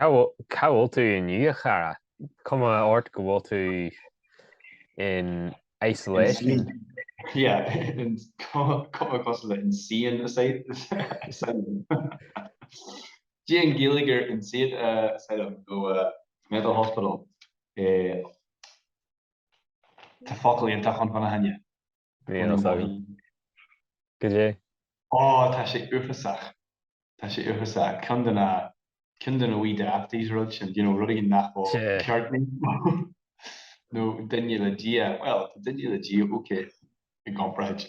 Cá bhfuil tú inniu a chara? Cuma ort go bhfuil tú in isolation. Yeah, cuma cosúil le insane asylum. Cad é an Ghaeilge ar insane asylum nó. Mental hospital i Tá focal iontach ann fána choinne. Go dé? Ó, tá sé uafásach. Tá sé uafásach. Ceann de na, ceann de na wee dafties rud sin, you know, rud éigin nach bhfuil ceart níos mó. nó duine le Dia, bhuel, tá duine le Dia ok i gcomparáid.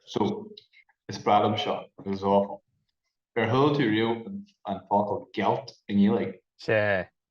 So, is breá liom seo, agus it's awful. Ar chuala tú riamh an focal gealt i nGaeilge? Sea,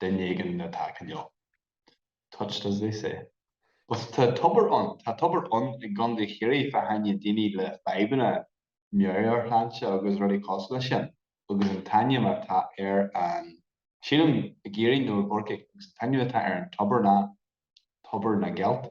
duine éigin atá cineál touched as they say. Bhuel, tá tobar ann. Tá tobar ann i gContae Chiarraí fá choinne daoine le fadhbanna meabhairshláinte agus rudaí cosúil leis sin. Agus an t-ainm atá ar an, sílim, i gCiarraí nó i gCorcaigh, agus an t-ainm atá ar an tobar ná Tobar na nGealt.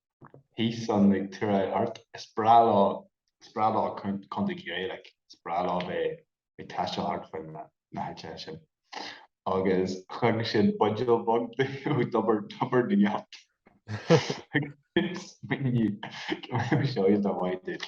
Thíos san ag Turai Art, is breá leo, is breá leo Contae Chiarraí, like, is breá leo bheith ag taisteal thart fán na háiteacha sin. Agus chuirfeadh siad buidéal beag de ó Thobar, Thobar na nGealt. Agus smaoinigh, go mbeadh sé iontach maith duit.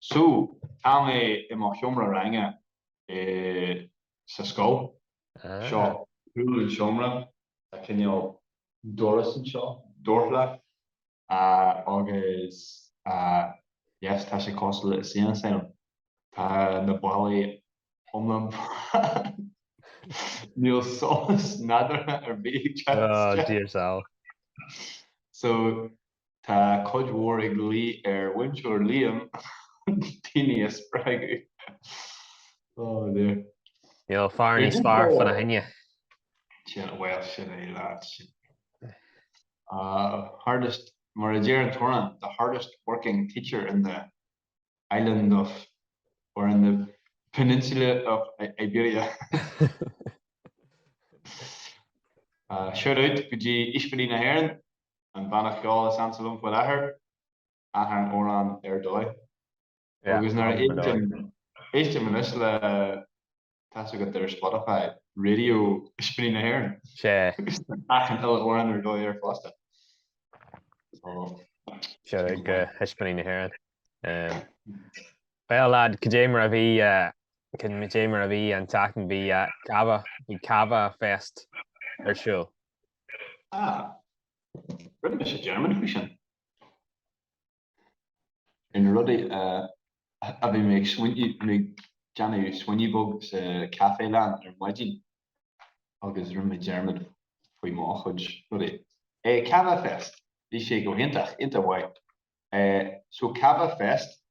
So, tá mé i mo sheomra ranga i, sa scoil. Seo, cúl an seomra, tá cineál doras anseo, dorchla, agus yes, tá sé cosúil le insane asylum. Tá na ballaí iomlán bán. Níl solas nádúrtha ar bith ag teacht isteach. Oh, dear sal. So, Tá cuid mhór ag luí ar Mhúinteoir Liam daoine a spreagadh. Oh dear. Níl fear níos fearr fána choinne. Sin, bhuel, sin é, leaids. Hardest, mar a deir an t-amhrán, the hardest working teacher in the island of, or in the peninsula of Iberia. Shout out go dtí Ispíní na hÉireann. An banna ceoil is ansa liom faoi láthair, achan amhrán ar dóigh. Agus nuair a éistim, éistim anois le, tá's agat, ar Spotify, Radio Ispíní na hÉireann. Sea. Agus tá achan uile amhrán ar dóigh air fosta. Sea, ag Ispíní na hÉireann. Bhuel, lad, cad é mar a bhí, cad é mar a bhí an tseachtain bhí cava, bhí cava fest ar siúl. Ah. Rinne mise dearmad faoi sin. Ar na rudaí a bhí mé ag smaoineamh, bhí mé ag déanamh smaoineamh beag sa chaifelann ar maidin agus rinne mé dearmad faoi mo chuid rudaí. Eh, Cava Fest. Bhí sé iontach, iontach maith. Eh, so Cava Fest,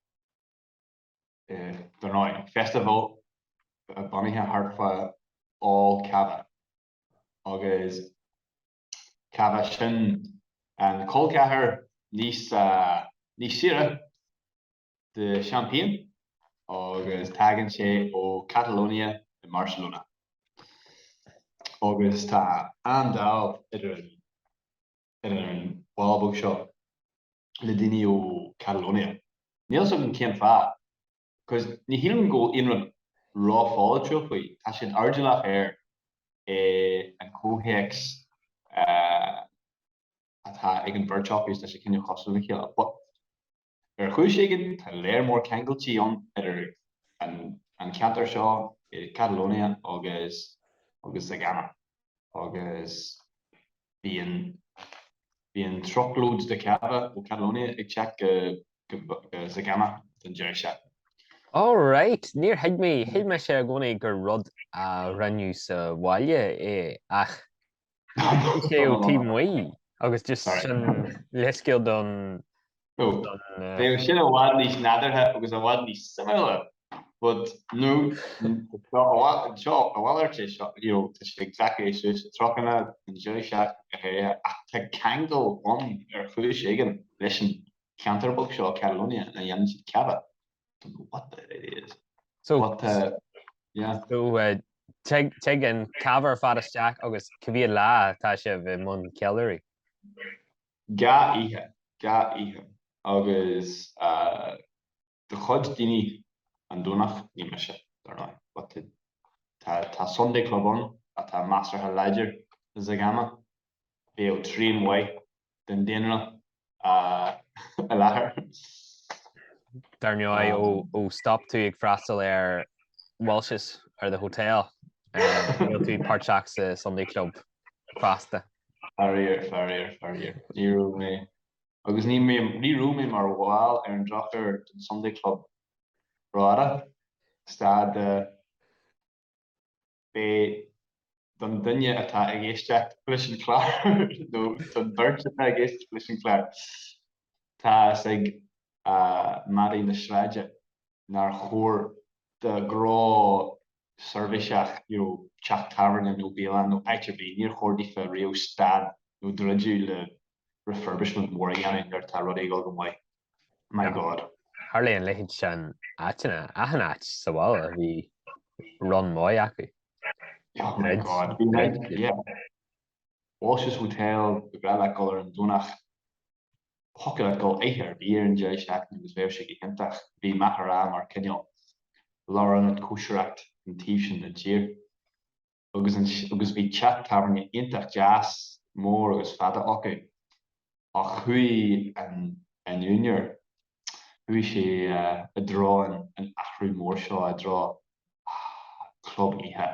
eh, dar ndóigh, festival bunaithe thart fá ól cava. agus cava, sin an col ceathrair níos saoire de Champagne agus tagann sé ó Catalonia i mBarcelona. Agus tá an-dáimh idir an bhaile beag seo le daoine ó Catalonia. Níl fhios agam cén fáth. Agus ní shílim go bhfuil aon rud rópholaitiúil faoi, tá siad airdeallach air, eh, an comhthéacs atá ag an bheirt acu is tá sé cineál cosúil le chéile. But ar chúis éigin tá lear mór ceangailtí ann idir an an ceantar seo i Catalonia agus agus Zegama agus. Bíonn truckload de cava ó Catalonia ag teacht go Zegama don deireadh seachtaine. Alright, níor thuig mé, shíl mise i gcónaí gur rud a rinneadh sa bhaile é ach bhí sé ó taobh amuigh agus just sin leithscéal don Bheadh sin i bhfad níos nádúrtha agus i bhfad níos suimiúla, but no, seo a mhalairt é seo, you know, tá siad ag glacadh é suas i dtrucanna, in dlínseach, go háirithe, ach tá ceangal ann ar chúis éigin leis an cheantar beag seo, Catalonia, ina ndéanann siad cava. Don't know what the hell it is. So, but, uh, yeah. So, uh, Tig an cava ar fad isteach agus cá mhéad lá atá sibh i mbun ceiliúraidh. Dhá oíche, dhá oíche. Agus do chuid daoine an Domhnach ní mise, dar ndóigh, but tá Sunday Club ann atá measartha láidir i Zegama, bheadh trian maith den daonra i láthair. Dar ndóigh, ó stop tú ag freastal ar Walsh's, ar the hotel, níl tú páirteach sa Sunday Club. Fosta. Faraor, faraor, faraor, ní raibh mé, agus ní mé, ní raibh mé mar bhall ar an drochuair den Sunday Club Drogheda, stad de bheith, don duine atá ag éisteacht leis an chlár, nó don bheirt atá ag éisteacht leis an chlár, tá's ag madaí na sráide. nár chóir do ghnó seirbhíseach nó teach tábhairne nó bialann nó áit ar bith, níor chóir daofa riamh stad nó druidiú le refurbishment mór a dhéanamh nuair atá rud ag dul go maith. My God. Tharla an leithéid seo in áiteanna, achan áit sa bhaile a bhí run maith acu. Oh my God. Bhí muid, yeah. Walsh's Hotel, ba bhreá leat dul ar an Domhnach. Thiocfadh leat dul oíche ar bith den tseachtain agus bheadh sé go hiontach. Bhí Mín an Rí mar cineál lárionad cóisireachta an taobh sin den tír agus bhí teach tábhairne iontach deas, mór agus fada acu. Ach chuaigh an úinéir, chuaigh sé i dtreo an athrú mór seo i dtreo Club Oíche.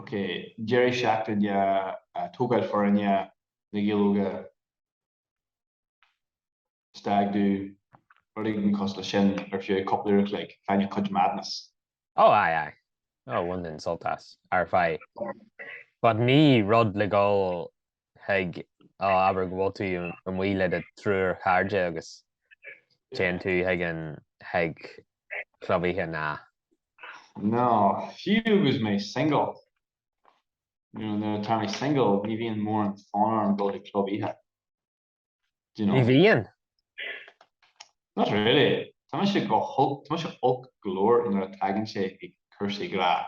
Ok, deireadh seachtain de thógáil foirne na Gaeilge, stag do, rud éigin cosúil le sin nó fiú, cúpla uair a chloig, faigheann cuid madness. Oh aye aye, oh bainim sult as, but ní rud le dhul Chuig, á, abair go bhfuil tú amuigh le do thriúr chairde agus téann tú chuig an chuig club oíche, nah. Nó fiú agus mé single, nuair atá mé single ní bhíonn mórán fonn orm dul chuig club oíche. Do you know? Ní bhíonn. Not really. Tá mise go holc, tá mise olc go leor nuair a tagann sé chuig cúrsaí grá.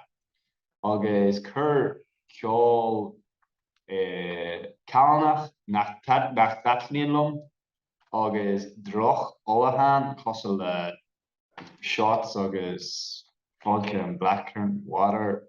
Agus cuir ceol callánach nach dtaitníonn liom agus droch-ólachán cosúil le shots agus vodka and blackcurrant water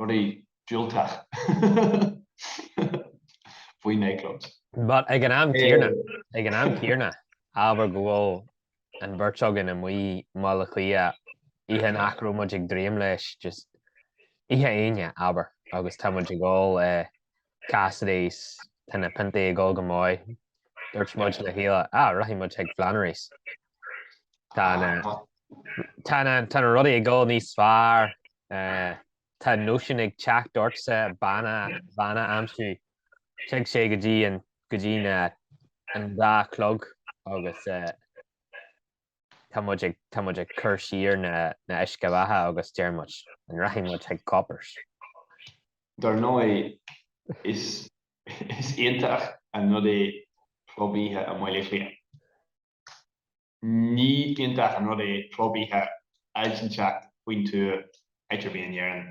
rudaí diúltacha faoi nightclubs. But ag an am céanna, ag an am céanna, abair go bhfuil an bheirt againn amuigh i mBaile Átha Cliath oíche nach raibh muid ag dréim leis, just oíche Aoine, abair, agus tá muid ag ól Cassidy's, Tá na piontaí ag dul go maith. Dúirt muid le chéile, á, rachaidh muid chuig Flannery's. Tá na, tá na, tá na rudaí ag dul níos fearr. Tá nóisean ag teacht ortsa, bean a, bean a aimsiú. Tig sé go dtí an, go dtí na, an dá chlog agus, tá muid ag tá muid ag cur siar na na h-uisce bheatha agus deir muid, an rachaidh muid chuig Coppers? Dar ndóigh, is is iontach an rud é club oíche i mBaile Átha Cliath. Ní iontach an rud é club oíche áit inteacht faoin tuath áit ar bith in Éirinn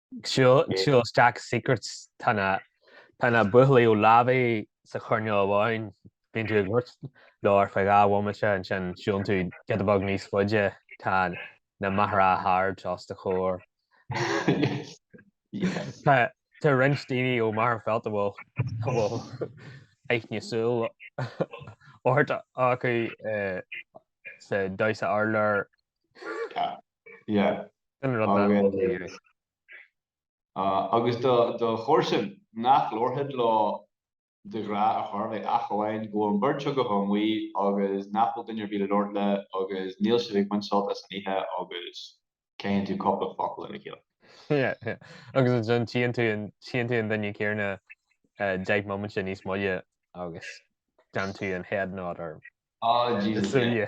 Siúl isteach i Secrets tá na tá na buachaillí ó Lavey sa choirnéal amháin bíonn tú ag labhairt leo ar feadh dhá bhomaite ansin siúlann tú giota beag níos faide tá na Maghera hards os do chomhair tá roinnt daoine ó Magherafelt a bhfuil a bhfuil aithne súl ort acu sa damhsa urláir Yeah. Sin rud nach bhfuil taobh air. Ah, agus do do chomharsain, nach labharfá leo de ghnáth ar chor ar bith ach amháin go bhfuil an bheirt agaibh amuigh agus nach bhfuil duine ar bith le labhairt le agus níl sibh ag baint sult as an oíche agus caitheann tú cupla focal lena chéile. Yeah, yeah. Agus ansin tíonn tú an tíonn tú an duine céarna eh, deich moiminte níos moille agus déanann tú an head nod air Ah, Jesus. súile.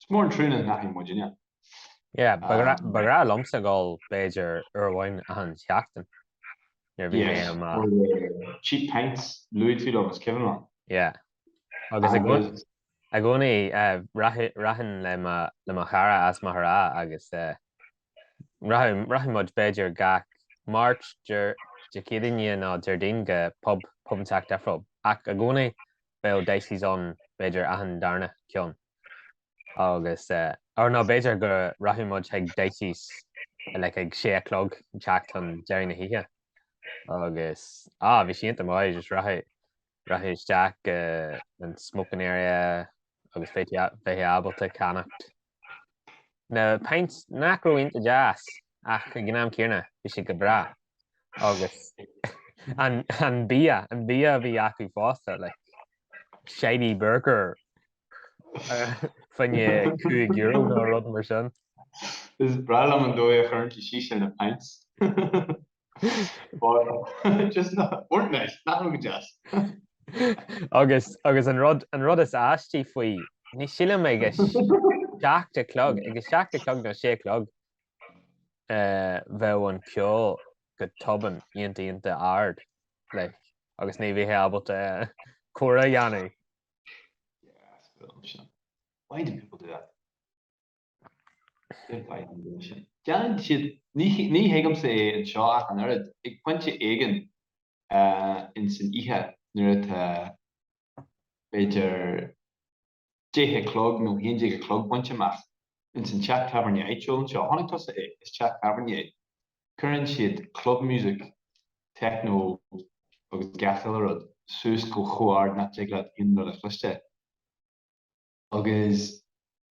Is mór an trua nach n-aithníonn muid inniu. Yeah, ba ghnách liomsa dhul b'fhéidir uair amháin achan seachtain, nuair a bhí mé i mo. Cheap pints, luaigh tú liom, is cuimhin liom. Yeah. Agus i gcónaí, rachainn le mo chara as Maghera agus rachadh muid b'fhéidir gach Máirt, Dé Céadaoin nó Déardaoin go pub, pub an tseachtain, ach i gcónaí bheadh Dicey's ann b'fhéidir achan darna ceann agus or ná b'fhéidir go rachadh muid chuig Dicey's like ag sé a chlog an teacht chun deiridh na hoíche agus ah bhí sé ionta maith just rachaidh rachfá isteach go an smoking area agus bheith bheifeá ábalta ceannacht Na pints nach raibh ionta deas ach ag an am céanna bhí siad go breá agus an bia, an bia a bhí acu fosta, like shiny burger faoi choinne €5 nó rud mar sin. Is breá liom an dóigh a chuireann tú síos ar na pints. Agus agus an rud an rud is aistí faoi, ní sílim ag a seacht a chlog, ag a seacht a chlog nó sé a chlog bheadh an ceol go tobann ionta ionta ard like agus ní bheifeá ábalta comhrá a dhéanamh. Yeah, I suppose. Why do people do that? Déanann siad, ní thuigimse é anseo ach an oiread, ag pointe éigin in san oíche nuair atá b'fhéidir deich a chlog nó haon déag a chlog bainte amach in san teach tábhairne áitiúil anseo, chonaic tusa é, is teach tábhairne é, cuireann siad club music, techno agus gach uile rud suas go chomh ard nach dtig leat aon rud a chloisteáil agus.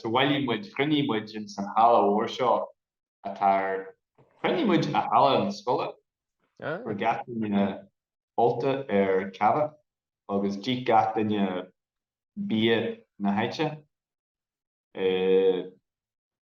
So bhailigh muid, chruinnigh muid in san halla mhór seo atá ar, chruinnigh muid i halla na scoile, chuir gach duine bolta ar ceamha agus d'ith gach duine bia na háite.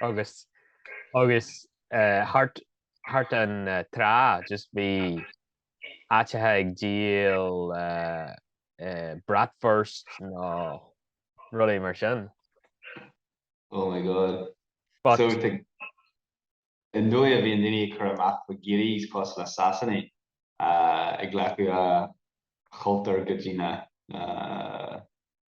agus agus thart thart an trá just bhí áiteacha ag díol bratwurst nó rudaí mar sin. Oh my God. But. So tá an dóigh a bhíonn daoine ag cur amach go guiris cosúil le Sasanaigh ag glacadh a gcultúr go dtí na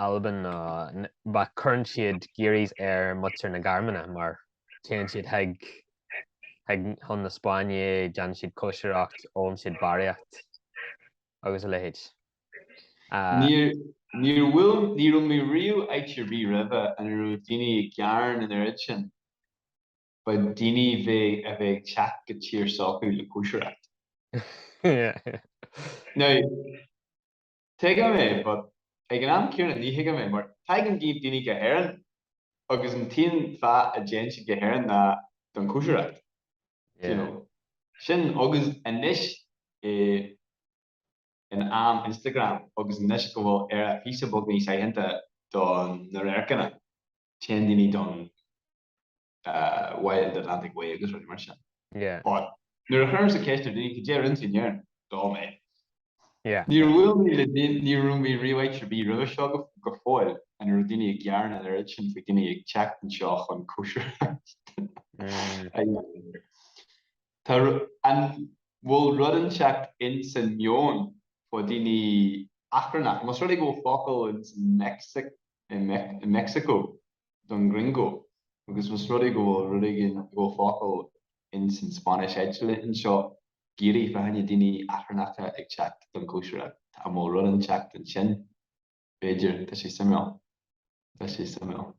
Albain ná but cuireann siad guiris ar mhuintir na Gearmáine mar téann siad chuig chuig chun na Spáinne, déanann siad cóisireacht, ólann siad barraíocht agus a leithéid. Ah. Níor bhfuil, ní raibh mé riamh áit ar bith roimhe ina raibh daoine ag gearán an oiread sin, fá daoine bheith a bheith ag teacht go tír s'acu le cóisireacht. Now, Tuigim é, but ag an am céanna ní thuigim é, mar tagann daoine go hÉirinn agus an t-aon fáth a dtéann siad go hÉirinn ná don cóisireacht, do you know. Sin, agus anois i in am Instagram agus anois go bhfuil Éire píosa beag níos aitheanta do na radharcanna, téann daoine don. Wild Atlantic Way agus rudaí mar sin. Nuair a chuireas an ceist ar daoine, cad é ar intinn air dom é? Ní raibh mé le déanamh, ní raibh mé riamh áit ar bith roimhe seo go fóill ina raibh daoine ag gearán an oiread sin faoi dhaoine ag teacht anseo chun cóisireacht a dhéanamh. An bhfuil rud inteacht in san meon fá daoine eachtrannach, más rud é go bhfuil focal in san Meicsiceo? don gringo, agus más rud é go bhfuil rud éigin i gcomhair focal ins an Spáinnis eitilte anseo, guiri fá choinne daoine eachtrannacha ag teacht don chóisireacht. Tá a mó rud inteacht ansin, b'fhéidir. Tá sé suimiúil. Tá sé suimiúil.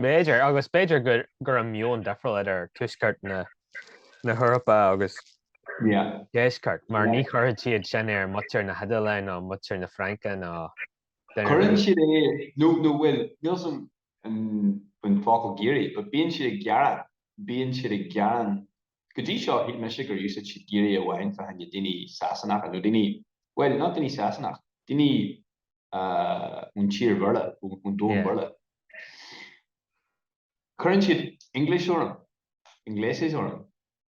B'fhéidir, agus b'fhéidir go raibh meon difriúil idir tuaisceart na hEorpa agus deisceart, mar ní chuirfeadh siad sin ar mhuintir na hIodáile ná muintir na Fraince ná Cuireann siad é nó nó bhuel, níl a fhios agam an focal guiri, but bíonn siad ag gearán, bíonn siad ag gearán, go dtí seo shíl mise gur úsáid siad guiri amháin fá choinne daoine Sasanacha nó daoine, bhuel, not daoine Sasanach, daoine ón tír Bhéarla, ón domhan Bhéarla. Cuireann siad English orm, ingleses orm.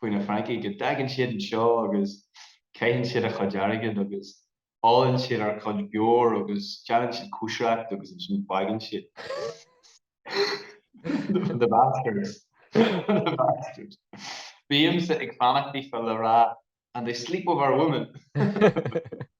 faoi na Francaigh go dtagann siad anseo agus caitheann siad a chuid airgead agus ólann siad ár gcuid beoir agus déanann siad cóisireacht agus ansin faigheann siad The bastards. The bastards. Bímse ag fanacht le rá And they sleep with our women!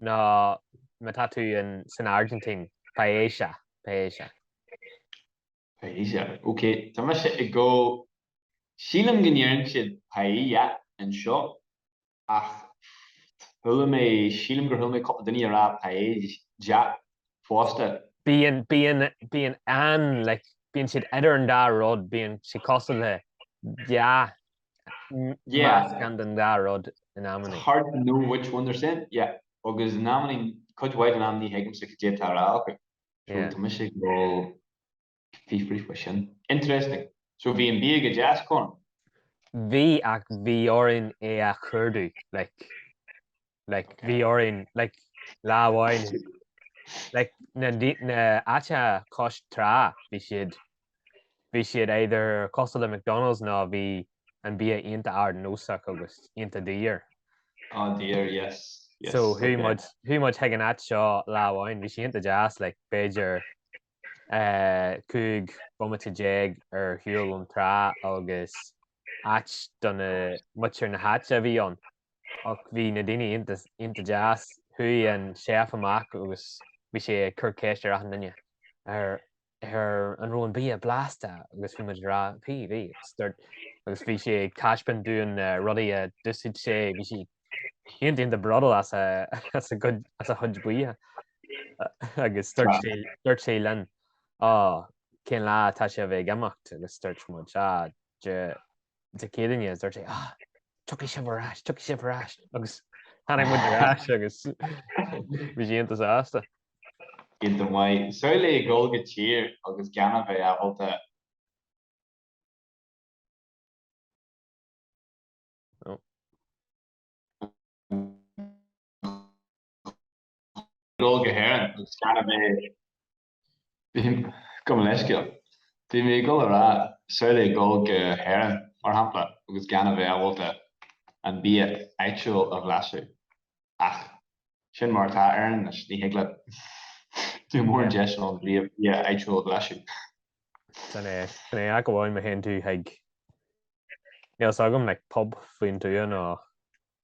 nó má tá tú in san Argentín, paella, paella. Paella, ok, tá mise ag go, sílim go ndeireann siad paella anseo, ach chuala mé, sílim gur chuala mé cúpla duine a rá paella fosta. Bíonn, bíonn, bíonn an, like, bíonn siad idir an dá rud, bíonn siad cosúil le, yeah. Meascán den dá rud in amannaí. It's hard to know which one they're saying. Yeah. Agus in amannaí, cuid mhaith den am ní thuigimse cad é tá á rá acu. So tá mise ag dul fiafraí faoi sin. Interesting. So bhí an bia go deas, Conor? Bhí ach bhí orainn é a chuardú, like. like okay. bhí orainn like lá amháin like na, na háiteanna cois trá bhí siad bhí siad either cosúil le McDonald's nó bhí an bia iontach ardnósach agus iontach daor. Ah daor yes. yes so chuaigh okay. muid chuaigh muid chuig an áit seo lá amháin bhí sé iontach deas like b'fhéidir uh, cúig bomaite déag ar shiúl ón trá agus áit do mhuintir na háite a bhí ann, ach bhí na daoine iontach deas. Chuaigh an chef amach agus bhí sé ag cur ceiste ar achan duine, Á an raibh an bia blasta? agus bhí muid ag rá, Bhí, bhí, agus dúirt, agus bhí sé ag taispeáint dúinn rudaí a d'úsáid sé, bhí sé iontach iontach bródúil as a chuid bídh, agus dúirt sé linn, 'Á, cén lá atá sibh ag imeacht? agus dúirt muid, 'Á, Dé Céadaoine', agus dúirt sé, 'Á, tiocfaidh sibh ar ais, tiocfaidh sibh ar ais', agus tháinig muid ar ais agus bhí sé iontach sásta. Iontach maith. Samhlaigh ag dul go tír agus gan a bheith ábalta. dul go hÉirinn agus gan a bheith. Gabh mo leithscéal. Bhí mé ag dul a rá, samhlaigh dhul go hÉirinn, mar shampla, agus gan a bheith ábalta an bia áitiúil a bhlaiseadh. Ach sin mar atá Éirinn anois, ní thig leat. Níl mórán deis ann bia áitiúil a bhlaiseadh. Sin é. Sin é ach amháin má théann tú chuig, níl 's agam, like, pub faoin tuath nó.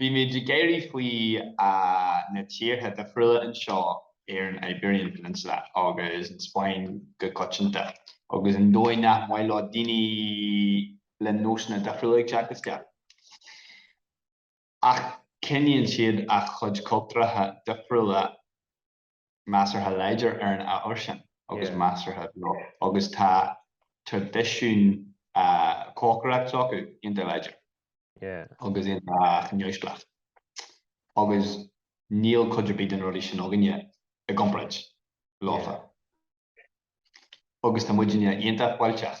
Bímid ag éirí, faoi na tíortha difriúla anseo ar an Iberian Peninsula agus an Spáinn go coitianta agus an dóigh nach maith leo daoine le nósanna difriúla ag teacht isteach. Ach coinníonn siad a gcuid cultúracha difriúla measartha láidir ar an ábhar sin agus measartha beag agus tá traidisiún cócaireacht s'acu iontach láidir agus iontach neamhspleách agus níl cuid ar bith de na rudaí sin againne i gcomparáid leofa agus tá muidinne iontach fáilteach.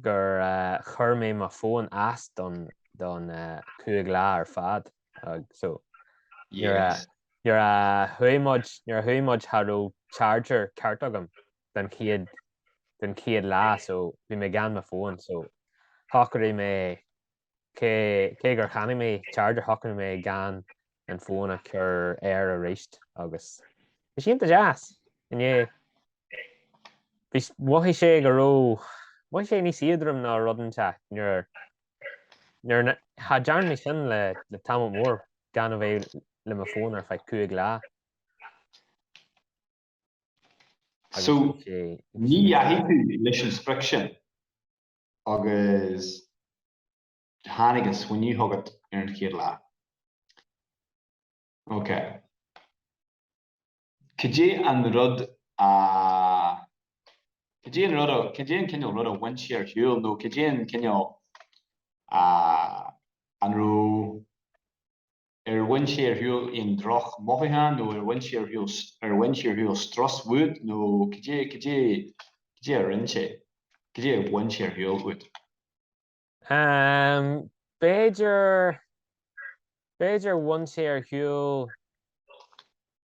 gur chuir mé mo fón as don don cúig lá ar fad. So nuair a nuair a chuaigh muid nuair a chuaigh muid cha raibh charger ceart agam don chéad don chéad lá so bhí mé gan mo fón so shocraigh mé Cé cé gur cheannaigh mé charger shocraigh mé gan an fón a chur air arís agus bhí sé iontach deas. Inné bhí s- mhothaigh sé go raibh, mhothaigh sé níos éadroime nó rud inteacht nuair nuair na cha dtearn mé sin le le tamall mór gan a bheith le mo fón ar feadh cúig lá. So, Agus bhí sé ní bhí sé. Ní dheachaigh tú leis an sprioc sin? Agus tháinig an smaoineamh chugat ar an chéad lá. Ok. Cad é an rud a. cad é an rud a. cad é an cineál rud a bhain sé ar shiúl nó cad é an cineál. a. an raibh. ar bhain sé ar shiúl aon drochmhothúcháin nó ar bhain sé ar shiúl, ar bhain sé ar shiúl strus uait nó cad é, cad é, cad é a rinne sé, cad é a bhain sé ar shiúl uait? B'fhéidir, b'fhéidir bhain sé ar shiúl.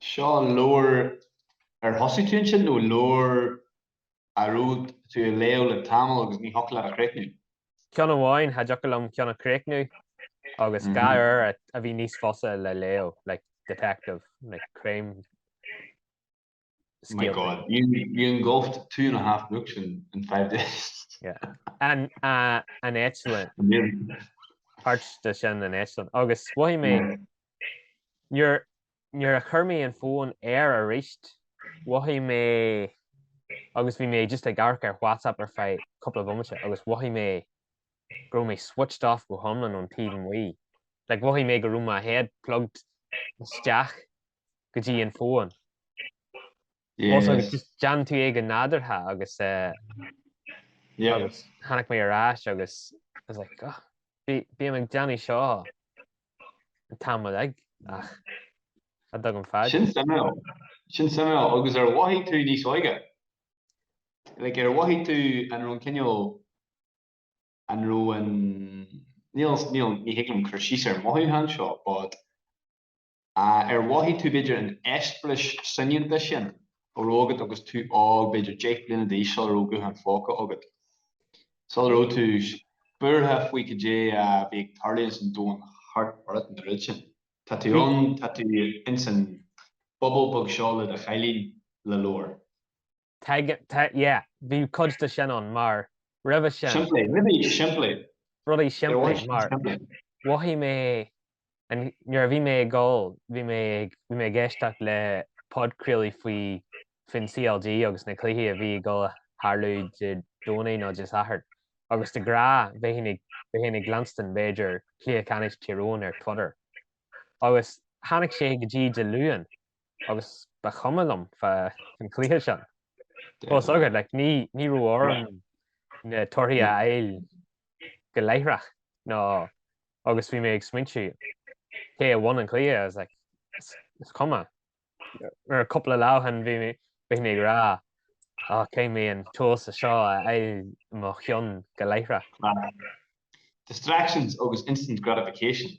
Seo leabhar ar thosaigh tú ansin, nó leabhar a raibh tú a léamh le tamall agus ní thiocfadh leat a chríochnú? Ceann amháin, cha dtiocfadh liom ceann a chríochnú, agus dhá leabhar a a bhí níos fusa le léamh, like detective, like crime scéalta. My God, you engulfed two and a half books in in five days. Yeah, an an eitleán. Amazing. Páirt de sin an eitleán, agus mhothaigh mé nuair nuair a chuir mé an fón air aríst, mhothaigh mé, agus bhí mé just ag amharc ar WhatsApp ar feadh cúpla bomaite, agus mhothaigh mé go raibh mé switched off go hiomlán ón taobh amuigh. Like, mhothaigh mé go raibh mo head plugged isteach go dtí an fón. Ó agus just déanann tú é go nádúrtha agus tháinig mé ar ais agus I was like oh bím ag déanamh seo an t-am uilig ach ach tuigim fad. Sin suimiúil, sin suimiúil agus ar mhothaigh tú níos óige? Like ar mhothaigh tú an raibh an cineál an raibh an ní ní thig liom cur síos ar an mhothúchán seo but Ar mhothaigh tú b'fhéidir an eispéireas soineanta sin a bhí agat agus tú óg, b'fhéidir deich bliana d'aois, sula raibh gutháin phóca agat? Sula raibh tú buartha faoi cad é a bhí ag tarlú ins an domhan thart ort nó rud sin? Tá tú ann, tá tú ins an bubble beag seo le do chailín le leabhar. yeah, bhí cuid de sin ann, mar roimhe sin. Simplí, rudaí simplí. Rudaí simplí, mar mhothaigh mé, nuair a bhí mé ag ól, bhí mé ag éisteacht le podchraoladh faoi, faoin CLG agus na cluichí a bhí ag dul a tharlú Dé Domhnaigh nó Dé Sathairn, agus de ghnáth, bheinn ag leanstan, b'fhéidir, Cluiche Ceannais Tír Eoghain ar Twitter, agus tháinig sé go dtí Dé Luain, agus ba chuma liom fa an cluiche sin. Bhfuil fhios agat, like, ní, ní raibh orm na torthaí a fháil go láithreach, nó agus bhí mé ag smaointiú cé a bhain an cluiche, I was like, is, is cuma. Nuair a cúpla lá ó shin bhí mé, bhí mé ag rá, á, caithfidh mé an t-eolas seo a fháil i mo cheann go láithreach. Distractions agus instant gratification,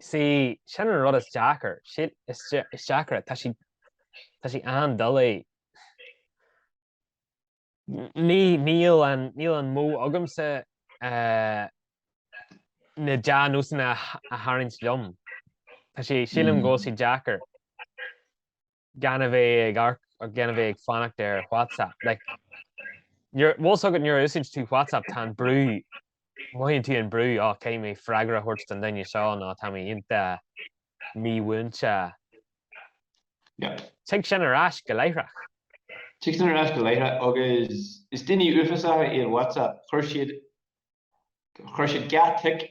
Sea, sin an rud is deacra, sin is deacra, tá sé, tá sé an-doiligh. Ní, níl an, níl an modh agamsa na dea-nósanna a tharraingt liom. Tá sé, sílim go bhfuil sé deacair. gan a bheith ag amharc agus gan a bheith ag fanacht ar WhatsApp. Like, nuair, bhfuil fhios agat nuair a úsáideann tú WhatsApp tá an brú, mothaíonn tú an brú, á, caithfidh mé freagra a thabhairt don duine seo nó tá mé iontach mímhúinte. Yep. Tig sin ar ais go láithreach. Tig sin ar ais go láithreach agus is daoine uafásacha iad WhatsApp. Chuir siad, chuir siad dhá tic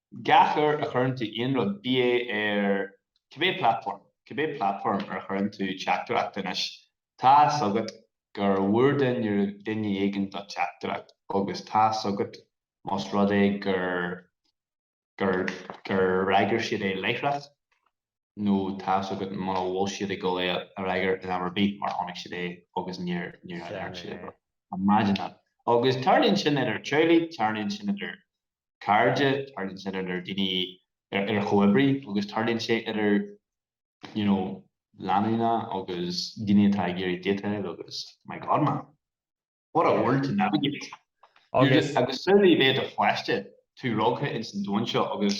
Gach uair a chuireann tú aon rud, bíodh é ar cibé platform, cibé platform ar chuireann tú teachtaireacht anois, tá fhios agat go bhfuair duine éigin do teachtaireacht agus tá fhios agat más rud é gur gur gur fhreagair siad é láithreach nó tá fhios agat muna bhfuil siad ag dul é a fhreagair in am ar bith mar chonaic siad é agus níor níor fhreagair siad é. Imagine that. Agus tarlaíonn sin idir teaghlaigh, tarlaíonn sin idir. cairde, tarlaíonn sin idir daoine, idir chomhoibrithe agus tarlaíonn sé idir you know lánúna agus daoine atá ag iarraidh déitáil agus my god man, what a world to navigate! Agus, agus sin a bheith i do pháiste, tú tógtha ins an domhan seo agus.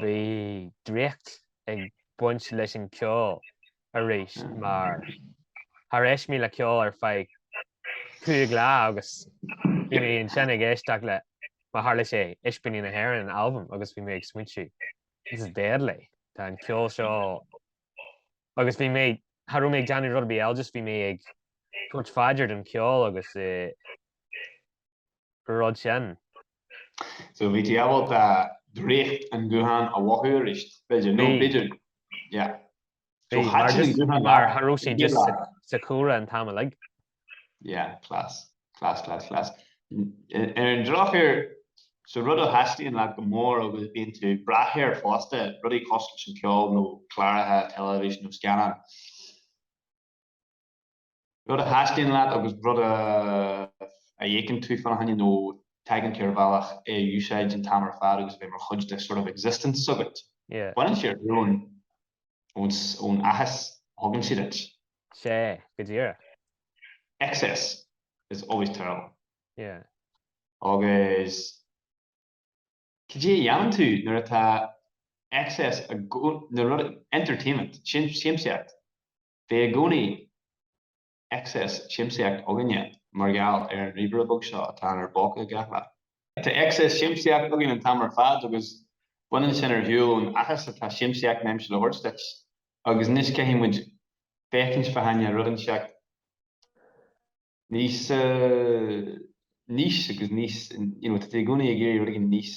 Bhí draíocht ag baint leis an gceol arís mar ní raibh mé le ceol ar feadh cúig lá agus bhí mé ansin ag éisteacht le, mar tharla sé, Ispíní na hÉireann an albam agus bhí mé ag smaointiú, this is deadly, tá an ceol seo, agus bhí mé, cha raibh mé ag déanamh rud ar bith eile just bhí mé ag cur m'aird ar an cheol agus é, rud sin. So, bhí tú ábalta draíocht an ghutháin a mhothú arís, b'fhéidir, nó b'fhéidir, yeah. So, thaitin an guthán leat. Mar ní raibh sé just sa chúlra an t-am uilig. Yeah, class, class, class, class. Ar an drochuair, so rud a thaitníonn leat go mór agus bíonn tú ag breathnú air fosta, rudaí cosúil leis an gceol nó cláracha teilifíse nó scannáin. Rud a thaitníonn leat agus rud a fhéachann tú fán choinne nó tagann tú ar bhealach é a úsáid an t-am ar fad agus a bheith mar chuid de sort of existence agat. Baineann sé ar shiúl ón áthas a thugann sé duit. Sea, go díreach. Excess is always terrible. Yeah. Agus cad é a dhéanann tú nuair atá excess, na rud, entertainment, siamsaíocht, Bíonn i gcónaí excess siamsaíocht againne mar gheall ar an ríomhaire beag seo atá inár bpóca gach lá. Tá excess siamsaíocht againn an t-am ar fad agus baineann sin ar shiúl ón áthas atá siamsaíocht in ainm is a thabhairt duit. Agus anois caithfidh muid féachaint fá choinne rud inteacht níos níos agus níos you know tá tú i gcónaí ag iarraidh rud éigin níos.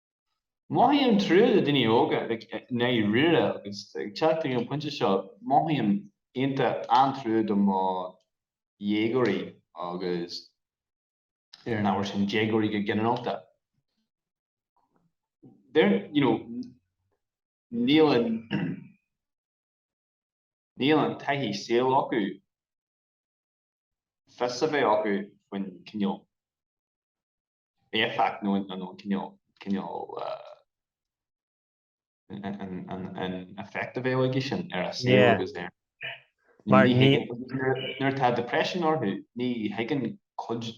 Mothaím trua do dhaoine óga ag éirí aníos agus ag teacht chuig an pointe seo mothaím iontach an-trua do mo dhéagóirí agus ar an ábhar sin déagóirí go ginearálta they're you know níl an níl an taithí saoil acu fios a bheith acu faoin cineál éifeacht nó cineál an effect a bheadh aige sin ar a saol agus ar, mar ní, nuair atá depression orthu ní thuigeann cuid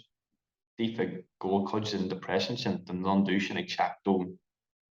díofa go bhfuil cuid den depression sin, den lionn dubh sin ag teacht ón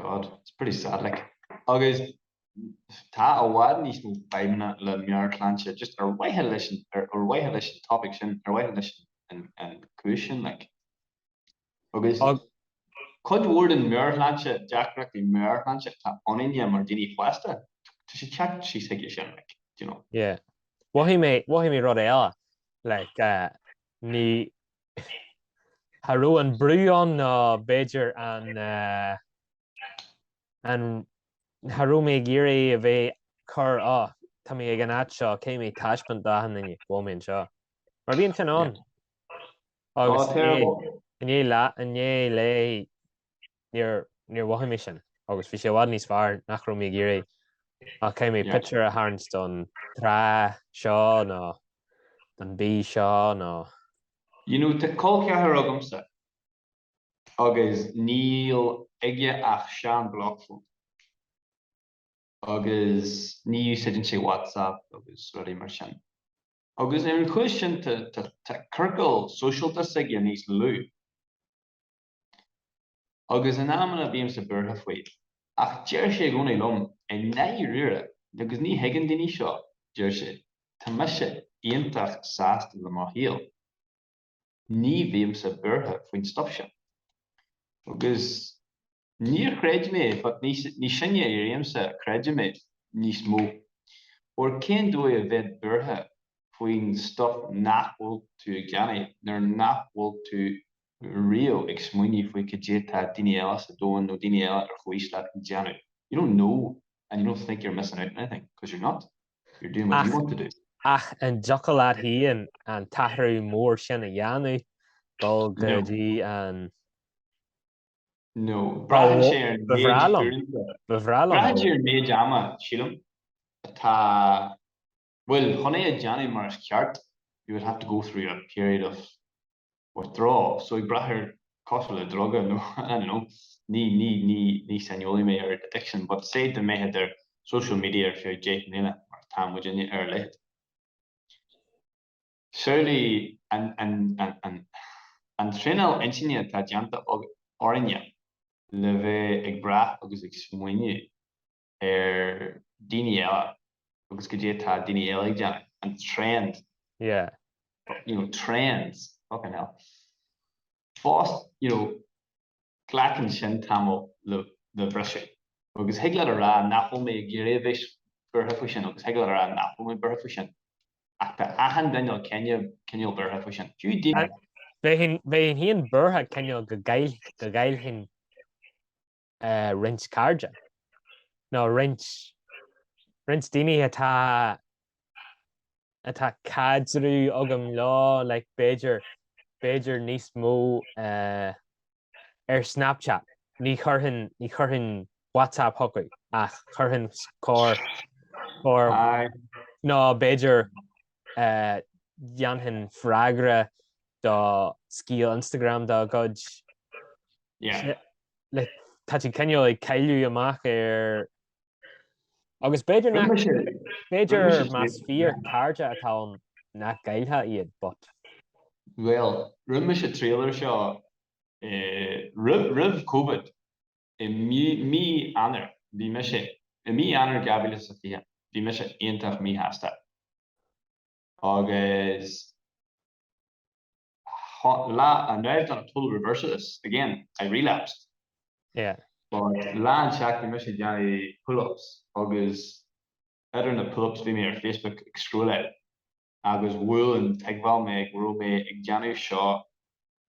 God, it's pretty sad like. Agus tá i bhfad níos mó fadhbanna le meabhairshláinte just ar mhaithe leis an, ar mhaithe leis an topic sin, ar mhaithe leis an cúis sin like. Agus cuid mhór den meabhairshláinte, deacrachtaí meabhairshláinte atá againne mar daoine fásta, tá sé teacht síos chuige sin like, you know. Yeah. Mhothaigh mé, mhothaigh mé rud eile like uh, ní Cha raibh an brú ann nó b'fhéidir an an Cha raibh mé ag iarraidh a bheith cur á Tá mé ag an áit seo, caithfidh mé taispeáint d'achan nduine, bhuel mé anseo. Mar bhí ansin ann. Tá, Agus inné, terrible. inné lá, inné léi níor mhothaigh mé sin agus bhí sé i bhfad níos fearr nach raibh mé ag iarraidh ach caithfidh mé pictiúr a tharraingt don trá seo nó don bhia seo nó You know, tá col ceathar agamsa agus níl aige ach sean block phone agus ní úsáideann sé WhatsApp agus rudaí mar sin agus ar an chúis sin tá ciorcal sóisialta s'aige níos lú. Agus in amanna bímse buartha faoi. Ach deir sé i gcónaí liom, i ndáiríre, agus ní thuigeann daoine seo, deir sé, tá mise iontach sásta le mo shaol. Ní bhímse buartha faoin stuif sin. Agus níor chreid mé, but níos sine a éirímse creideann mé níos mó. Óir cén dóigh a bheith buartha faoin stuif nach bhfuil tú ag déanamh, nuair nach bhfuil tú riamh ag smaoineamh faoi cad é atá daoine eile sa domhan nó daoine eile ar chomhaois leat ag déanamh. You don't know and you don't think you're missing out on anything because you're not. You're doing what you want to do. Ach an dtiocfadh leat féin an t-athrú mór sin a dhéanamh, dul go dtí an. No. Braitheann sé ar an méid uaireanta. Ba bhreá liom. Braitheann sé ar an méid ama, sílim, atá. Bhuel, chun é a dhéanamh mar is ceart you would have to go through a period of withdrawal, so ag brath ar cosúil le druga nó I don't know ní ní ní ní saineolaí mé ar addiction but say dá mbeifeá ar social media ar feadh deich mbliana mar tá muidne ar a laghad surely an an an an an traenáil intinne atá déanta orainne le bheith ag brath agus ag smaoineamh ar daoine eile agus cad é atá daoine eile ag déanamh and trends. Yeah. You know, trends. Fucking hell. Fás, you know, glacann sin tamall le briseadh. Agus thig leat a rá nach bhfuil mé ag iarraidh a bheith buartha faoi sin agus thig leat a rá nach bhfuil mé buartha faoi sin. Ach tá achan duine cineál cineál buartha faoi sin. Fiú daoine. Bheinn féin buartha cineál go gcaillfinn. roinnt cairde, nó roinnt, roinnt daoine atá, atá caidreamh agam leo, like, b'fhéidir, b'fhéidir níos mó ar Snapchat, ní chuirfinn, ní chuirfinn WhatsApp chucu ach chuirfinn corr, corr, nó b'fhéidir dhéanfainn freagra do scéal Instagram de do chuid. Yeah. ach tá tú cineál ag cailleadh amach ar agus b'fhéidir nach b'fhéidir más fíor cairde atá ann nach gcaillfeá iad but. Bhuel, rinne mise triail ar seo roimh roimh Covid i mí mí Eanáir, bhí mise i mí Eanáir 2020, bhí mise iontach míshásta. Agus lá amháin, now I've done a total reversal of this again, I relapsed. Yeah. But lá amháin actually bhí mise ag déanamh pull-ups agus idir na pull-ups bhí mé ar Facebook ag scrolláil agus bhuail an tuigbheáil mé go raibh mé ag déanamh seo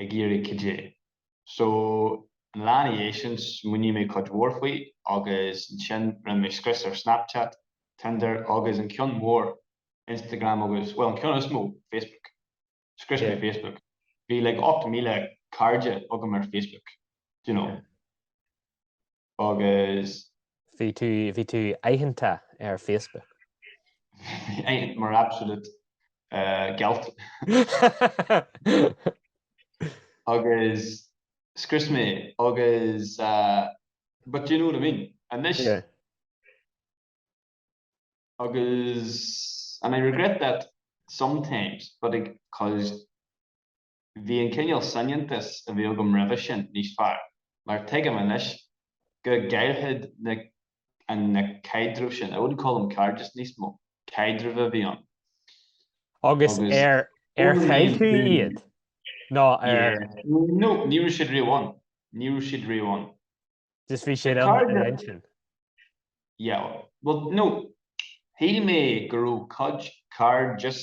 ag iarraidh caidé. So, an lá ina dhiaidh sin, smaoinigh mé cuid mhór faoi, agus ansin rinne mé scrios ar Snapchat, Tinder, agus an ceann mór, Instagram, agus, bhuel, an ceann is mó, Facebook. Scrios mé Facebook. Bhí like 8,000 cairde agam ar Facebook, do you know. agus. Bhí tú, bhí tú aitheanta ar Facebook. Bhí mé aitheanta mar absolute gealt. Agus scrios mé agus but do you know what I mean? Anois. Yeah. Agus and I regret that sometimes but 'cause. Bhí an cineál soineantais a bhí agam roimhe sin níos fearr, mar tuigim anois go gcailltear na na caidrimh sin, I wouldn't call them cairdeas níos mó, caidrimh a bhí ann. Agus ar ar chaill tú iad? Nó ar. Yeah. No, ní raibh siad riamh ann. Ní raibh siad riamh ann. Just bhí siad ann i d'intinn? Yeah. Bhuel, no, shíl mé go raibh cuid cairdeas.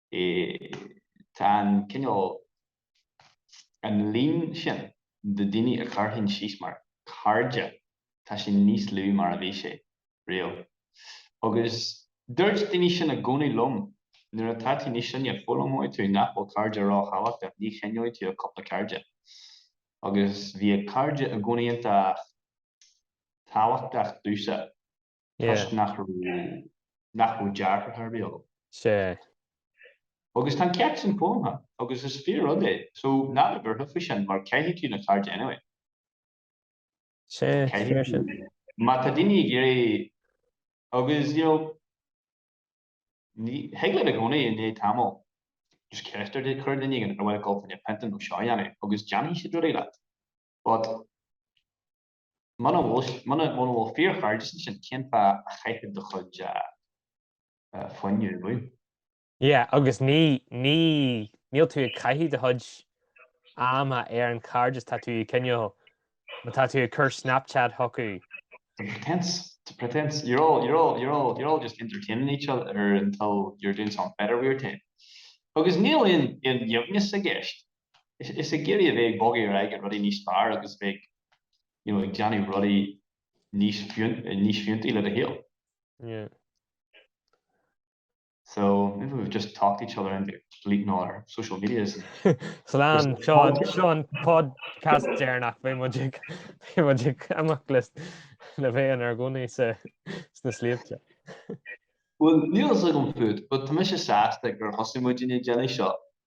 Tá an cineál, an líon sin de dhaoine a chuirfinn síos mar chairde, tá sé níos lú ná mar a bhí sé riamh. Agus dúirt daoine sin i gcónaí liom, nuair atá tú níos sine, foghlaimeoidh tú nach bhfuil cairde ró-thábhachtach, ní choinneoidh tú ach cúpla cairde. Agus bhíodh cairde i gcónaí iontach tábhachtach domhsa. toisc nach raibh deartháir beag agam. Sea. Agus tá an ceacht sin foghlamtha agam, agus is fíor-rud é, so ná bí buartha faoi sin, mar caillfidh tú na cairde anyway. Sea, fíor sin. Má tá daoine ag iarraidh, agus you know, ní, thig leat i gcónaí i ndiaidh tamaill just ceist a chur ar duine éigin, ar mhaith leat dul chun pionta nó seo a dhéanamh, agus déanfaidh siad rudaí leat, but. Muna bhfuil, muna, muna bhfuil fíorchairdeas ansin, cén fáth a chaithfeá do chuid fuinneamh? Yeah, agus ní, ní, níl tú ag caitheamh do chuid ama ar an chairdeas sin, tá tú ag cineál, má tá tú ag cur Snapchat chucu, It's a pretence, it's a pretence, you're all, you're all, you're all just entertaining each other until you're doing something better with your time. Agus níl aon, aon aoibhneas i gceist. Is ag iarraidh a bheith ag bogadh ar aghaidh chuig rudaí níos fearr agus a bheith ag, you know, ag déanamh rudaí níos níos fiúntaí le do shaol. Yeah. So maybe we've just talked each other into deleting all our social medias. Slán Seo an podcast deireanach, beidh muid ag imeacht le bheith inár gcónaí sa sna sléibhte. Well níl a fhios agam fút, but tá mise sásta gur thosaigh muidne ag déanamh seo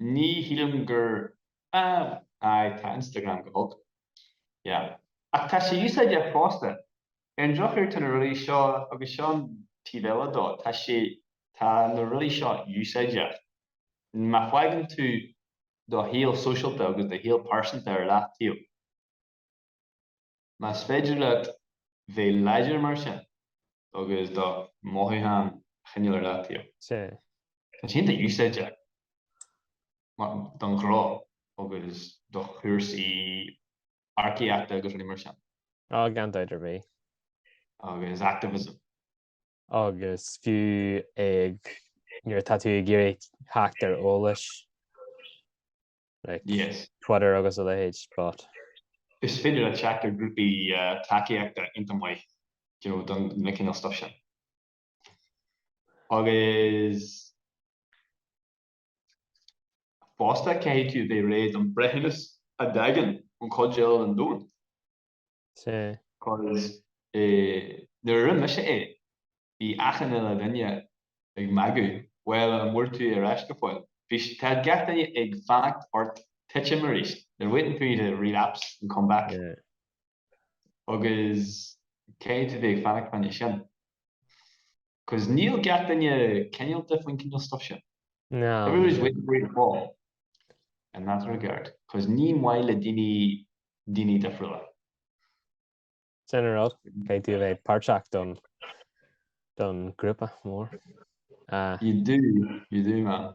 Ní shílim gur Aw, aye, tá Instagram go holc. Yeah. Ach tá sé úsáideach fosta. Ar an drochuair tá na rudaí seo, agus seo an taobh eile de, tá sé, tá na rudaí seo úsáideach. Má fágann tú do shaol sóisialta agus do shaol pearsanta ar leataobh, Más féidir leat bheith láidir mar sin agus do mhothúcháin a choinneáil ar leataobh, tá sé iontach úsáideach don ghnó agus do chúrsaí earcaíochta agus rudaí mar sin. Á, gan dabht ar bith. Agus activism. agus fiú ag nuair atá tú ag iarraidh teacht ar eolas, like Twitter agus a leithéid, but. Is féidir leat teacht ar grúpaí tacaíochta iontach maith, you know, don chineál stuff sin. Agus fosta caithfidh tú a bheith réidh don breithiúnas a thagann ón chuid eile den domhan. Sea. Agus nuair a rinn mise é, bhí achan uile dhuine ag magadh, Bhuel, an bhfuair tú ar ais go fóill? Bhí sé, tá gach duine ag fanacht ort titim arís, they're waiting for you to relapse and come back. Agus cé tú bheith ag fanacht fá níos sin? Cos níl gach duine cinéalta faoin cineál stuif sin. Everyone is waiting for you to fall in that regard cos ní maith le daoine daoine difriúla. Sin an rud, caithfidh tú a bheith páirteach don don grúpa mór. You do, you do man.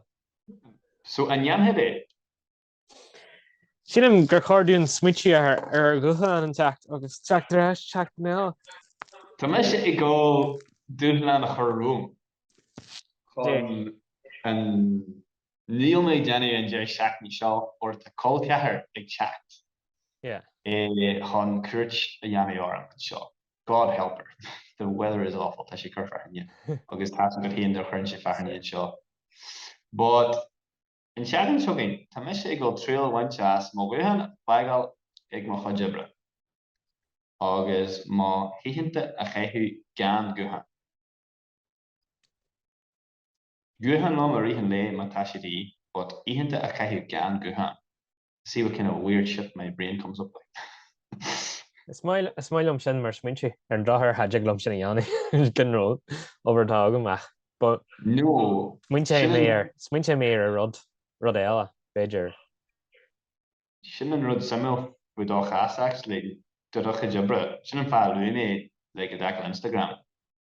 So an ndéanfaidh é? Sílim gur chóir dúinn smaoitiú ar ar dhúshlán teacht agus teacht ar ais teacht na. Tá mise ag gol dúshlán a chur romham chun an Níl mé ag déanamh an deireadh seachtaine seo óir tá col ceathar ag teacht chun cuairt a dhéanamh orm anseo. God help her. The weather is awful. Tá sé ag cur fearthainne agus tá go hiondúil ní chuireann sé fearthainne anseo. But. An tseachtain seo chugainn, tá mise ag gol triail a bhaint as mo ghuthán a fhágáil ag mo chuid oibre, agus na hoícheanta a chaitheamh gan guthán. Guthán liom i rith an lae má tá sé de dhíth, but oícheanta a chaitheamh gan guthán. See what kind of weird shit my brain comes up with. Is maith liom sin mar smaoineamh ar an drochuair ní thig liom sin a dhéanamh, leis an ról obair atá agam ach but no, smaointeoidh mé ar, smaointeoidh mé ar rud, rud eile, b'fhéidir. Sin an rud suimiúil faoi do chás-sa actually, do do chuid oibre, sin an fáth a luaigh mé like i dtaca le Instagram.